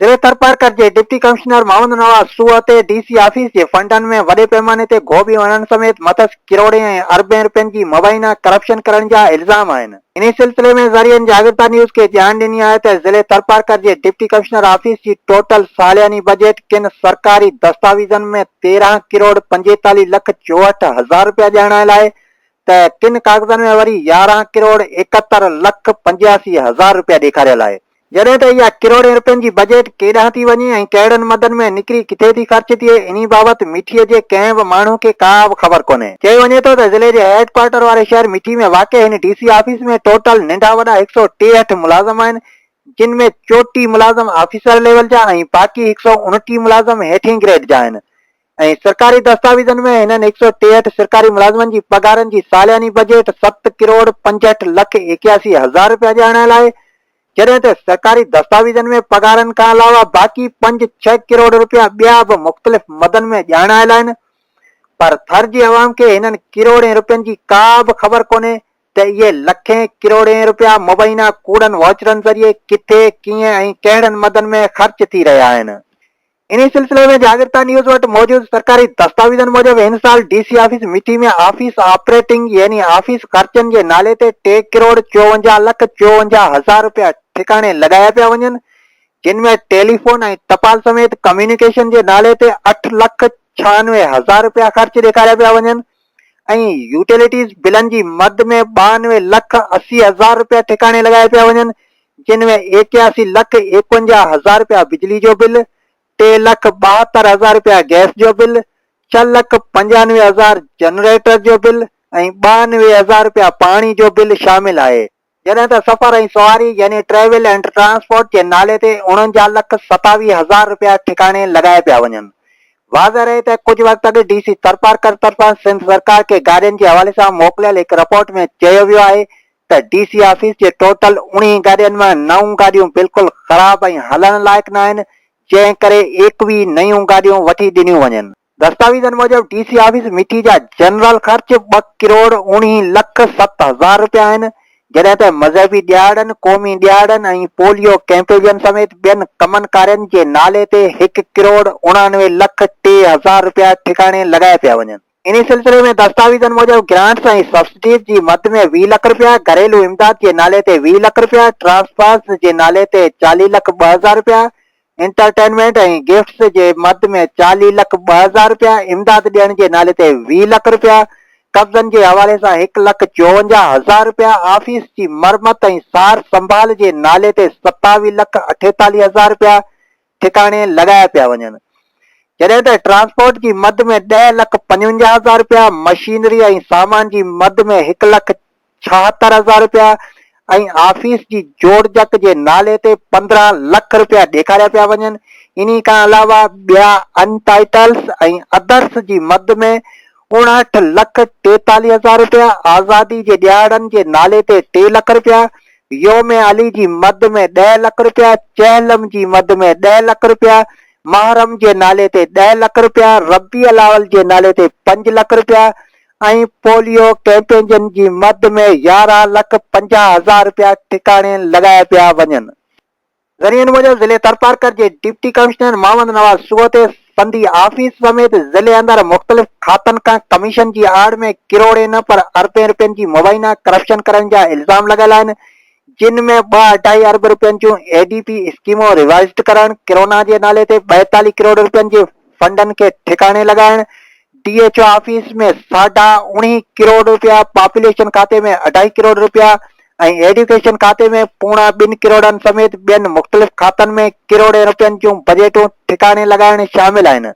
ضلعي ٿرپارڪر جي deputy commissioner Muhammad Nawaz سوهه تي ڊي سي آفيس جي فنڊن ۾ وڏي پيماني تي گهوٻيون هڻڻ سميت مٿس ڪروڙين ۽ اربين رپين جي مبينا ڪرپشن ڪرڻ جا الزام آهن انهي سلسلي ۾ ذريعن جاڳرتا نيوز کي ڄاڻ ڏني آهي ته ضلعي ٿرپارڪر جي ڊپٽي ڪمشنر آفيس جي ٽوٽل سالياني بجيٽ ڪن سرڪاري دستاويزن ۾ تيرهن ڪروڙ پنجيتاليهه لک چوهٺ هزار رپيا ڄاڻايل آهي ته ڪن ڪاغذن ۾ وري يارهن ڪروڙ ايڪهتر لک پنجياسي هزار رپيا ڏيکاريل آهي جڏهن ته اها ڪروڙين رپين جي بجيٽ ڪيڏانهن ٿي وڃي ۽ ڪهڙن مدن ۾ نڪري ڪٿي ٿي خرچ ٿئي انهي بابت مٺي جي ڪنهن به ماڻهو کي ڪا به خبر ڪونهي. چئي وڃي ٿو ته ضلعي جي هيڊ ڪوارٽر واري شهر مٺي ۾ واقع هن ڊي سي آفيس ۾ ٽوٽل ننڍا وڏا هڪ سؤ ٽيهٺ ملازم آهن جن ۾ چوٽيهه ملازم آفيسر ليول جا ۽ باقي هڪ سؤ انٽيهه ملازم هيٺين گريڊ جا آهن ۽ سرڪاري دستاويزن ۾ هنن هڪ سؤ ٽيهٺ سرڪاري ملازمن جي پگهارن جي سالياني بجيٽ ست ڪروڙ پنجهٺ لک ايڪياسي هزار رپيا ڄاڻايل آهي، جڏهن ته سرڪاري دستاويزن ۾ پگهارن کان علاوه باقي پنج ڇهه ڪروڙ رپيا ٻيا به مختلف مدن ۾ ڄاڻايل آهن، پر ٿر جي عوام کي هنن ڪروڙين رپين جي ڪا به خبر ڪونهي ته اهي لکين ڪروڙين رپيا مبينا ڪوڙن واچرن ذريعي ڪٿي، ڪيئن ۽ ڪهڙن مدن ۾ خرچ ٿي رهيا آهن. انهي سلسلي ۾ جاڳرتا نيوز وٽ موجود سرڪاري دستاويزن موجب هن سال D C office Mithi ۾ office operating يعني آفيس خرچن جي نالي تي ٽي ڪروڙ چوونجاهه لک چوونجاهه هزار رپيا ٺڪاڻي لڳايا پيا وڃن جن ۾ ٽيليفون ۽ ٽپال سميت ڪميونيڪيشن جي نالي تي اٺ لک ڇهانوي هزار رپيا خرچ ڏيکاريا پيا وڃن ۽ يوٽيلٽيز بلن جي مد ۾ ٻانوي لک اسي هزار رپيا ٺڪاڻي لڳايا پيا وڃن جن ۾ ايڪياسي لک ايڪونجاهه هزار رپيا بجلي جو بل ٽي لک ٻاهتر هزار رپيا گئس جو بل ڇهه لک پنجانوي هزار جنريٽر جو بل ۽ ٻانوي هزار رپيا پاڻي جو بل شامل آهي جڏهن ته سفر ۽ سواري يعني ٽريول اينڊ ٽرانسپورٽ جي نالي تي اڻنجاهه لک ستاويهه هزار رپيا ٺڪاڻي لڳايا پيا وڃن. واضح رهي ته ڪجهه وقت اڳ ڊي سي ٿرپارڪر طرفان سنڌ سرڪار کي گاڏين جي حوالي سان موڪليل هڪ رپورٽ ۾ چيو ويو آهي ته ڊي سي آفيس جي ٽوٽل اوڻيهه گاڏين مان نو گاڏيون بلڪل خراب ۽ هلڻ لائق ناهن جنهن ڪري ايڪويهه نيون گاڏيون وٺي ڏنيون وڃن. دستاويزن موجب ڊي سي آفيس مٺي جا جنرل خرچ ٻه ڪروڙ اوڻيهه لک ست هزار رپيا آهن، جڏهن ته مذهبي ڏهاڙن، قومي ڏهاڙن ۽ پوليو ڪئمپيجن سميت ٻين ڪمن ڪارين جي نالي تي هڪ ڪروڙ اڻانوي لک ٽي هزار رپيا ٺڪاڻي لڳايا پيا وڃن. انهي سلسلي ۾ دستاويزن موجب گرانٽس ۽ سبسڊيز جي مد ۾ ويهه لک رپيا، گهريلو امداد جي نالي تي ويهه لک رپيا، ٽرانسفرز جي نالي تي چاليهه لک ٻه هزار رپيا، انٽرٽينمينٽ ۽ گفٽس جي مد ۾ چاليهه لک ٻه هزار رپيا، امداد ڏيڻ جي نالي تي ويهه لک رپيا، قبضن جي حوالي سان هڪ لک چوونجاهه هزار رپيا، آفيس جي مرمت ۽ سار سنڀال جي نالي تي ستاوي لک اٺيتاليهه هزار رپيا ٺڪاڻي لڳايا پيا وڃن. جڏهن ته ٽرانسپورٽ جي مد ۾ ڏهه لک پنجونجاهه هزار رپيا، مشينري ۽ سامان جي مد ۾ هڪ لک ڇاهتر هزار رپيا ۽ آفيس جي جوڙجڪ جي نالي تي پندرهن لک رپيا ڏيکاريا پيا وڃن، انهي کان علاوه ٻيا ان ٽائيٽلز ۽ ادرس جي مد ۾ اڻهٺ لک ٽيتاليهه هزار رپيا، آزادي جي ڏهاڙن جي نالي تي ٽي لک رپيا، يوم علي جي مد ۾ ڏهه لک رپيا، چهلم جي مد ۾ ڏهه لک رپيا، محرم جي نالي تي ڏهه لک رپيا، ربيع الاول جي نالي تي پنج لک رپيا، ۽ پوليو ڪيمپينجن جي مد ۾ يارهن لک پنجاهه هزار رپيا ٺڪاڻي لڳايا پيا وڃن. ذريعن موجب ضلعي ٿرپارڪر جي ڊپٽي ڪمشنر محمد نواز سوتي سنڌي آفيس سميت ضلعي اندر مختلف کاتن کان ڪميشن جي آڙ ۾ ڪروڙين نه پر اربين رپين جي مبينا ڪرپشن ڪرڻ جا الزام لڳل آهن جن ۾ ٻه اڍائي ارب رپين جون اي ڊي پي اسڪيمون ريوائيزڊ ڪرڻ، ڪرونا جي نالي تي ٻائيتاليهه ڪروڙ رپين جي فنڊن کي ٺڪاڻي لڳائڻ، ڊي ايڇ او آفيس ۾ ساڍا اوڻيهه ڪروڙ رپيا، پاپوليشن کاتي ۾ اڍائي ڪروڙ رپيا ۽ ايڊيوڪيشن کاتي ۾ پوڻا ٻن ڪروڙن سميت ٻين مختلف کاتن ۾ ڪروڙين رپين جون بجيٽون ٺڪاڻي لڳائڻ شامل آهن.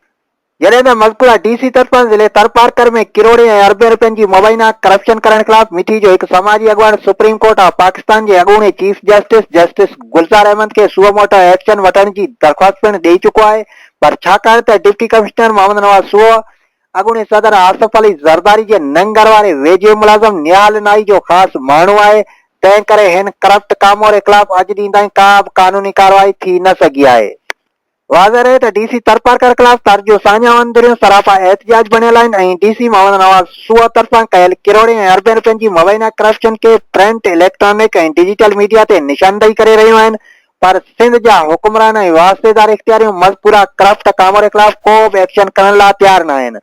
جڏهن ته مذڪوره ڊي سي طرفان ضلعي ٿرپارڪر ۾ ڪروڙين ۽ اربين رپين جي مبينا ڪرپشن ڪرڻ خلاف مٺي جو هڪ سماجي اڳواڻ سپريم ڪورٽ آف پاڪستان جي اڳوڻي chief justice justice Gulzar Ahmed کي سوء موٽو ايڪشن وٺڻ جي درخواست پڻ ڏئي چڪو آهي پر ڇاڪاڻ ته ڊپٽي ڪمشنر محمد نواز سوء اڳوڻي صدر آصف علي زرداري جي ننگر واري ويجهي ملازم نهال نائي جو خاص ماڻهو آهي تنهن ڪري هن ڪرپٽ ڪاموري خلاف اڄ ڏينهن تائين ڪا به قانوني ڪارروائي ٿي نه سگهي آهي. واضح رهي ته ڊي سي ترپارڪر خلاف تر جون ساڃاهون ڌريون سراپا احتجاج بڻيل آهن ۽ ڊي سي محمد نواز شوء طرفان ڪيل ڪروڙين ۽ اربين رپين جي مبينا ڪرپشن کي پرنٽ، اليڪٽرانڪ ۽ ڊجيٽل ميڊيا تي نشاندهي ڪري رهيون آهن پر سنڌ جا حڪمران ۽ واسطيدار اختياريون مذڪوره ڪرپٽ ڪاموري خلاف ڪو به ايڪشن کڻڻ لا تيار ناهن.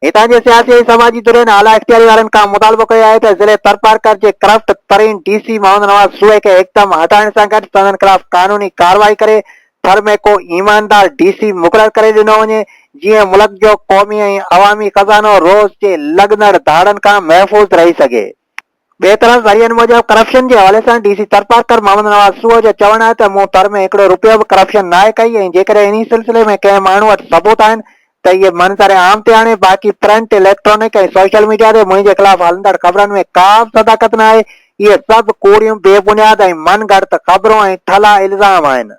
هتان جي سياسي ۽ سماجي ڌرين اعليٰ اختياري وارن کان مطالبو ڪيو آهي ته ضلعي ٿرپارڪر جي ڪرپٽ ترين ڊي سي محمد نواز سوئي کي هڪدم هٽائڻ سان گڏ سندن خلاف قانوني ڪارروائي ڪري ٿر ۾ ڪو ايماندار ڊي سي مقرر ڪري ڏنو وڃي جيئن ملڪ جو قومي ۽ عوامي خزانو روز جي لڳندڙ ڌاڙن کان محفوظ رهي سگهي. ٻئي طرف ذريعن موجب ڪرپشن جي حوالي سان ڊي سي ٿرپارڪر محمد نواز سوهه جو چوڻ آهي ته مون ٿر ۾ هڪڙو رپيو به ڪرپشن ناهي ڪئي ۽ جيڪڏهن انهي سلسلي ۾ ڪنهن ماڻهو وٽ ثبوت آهن ته اهي منظر عام تي آڻي باقي پرنٽ، اليڪٽرانڪ ۽ سوشل ميڊيا تي منهنجي خلاف هلندڙ خبرن ۾ ڪابه صداقت ناهي، اهي سڀ ڪوڙيون، بي بنياد ۽ من گهڙت خبرون ۽ ٺلها الزام آهن.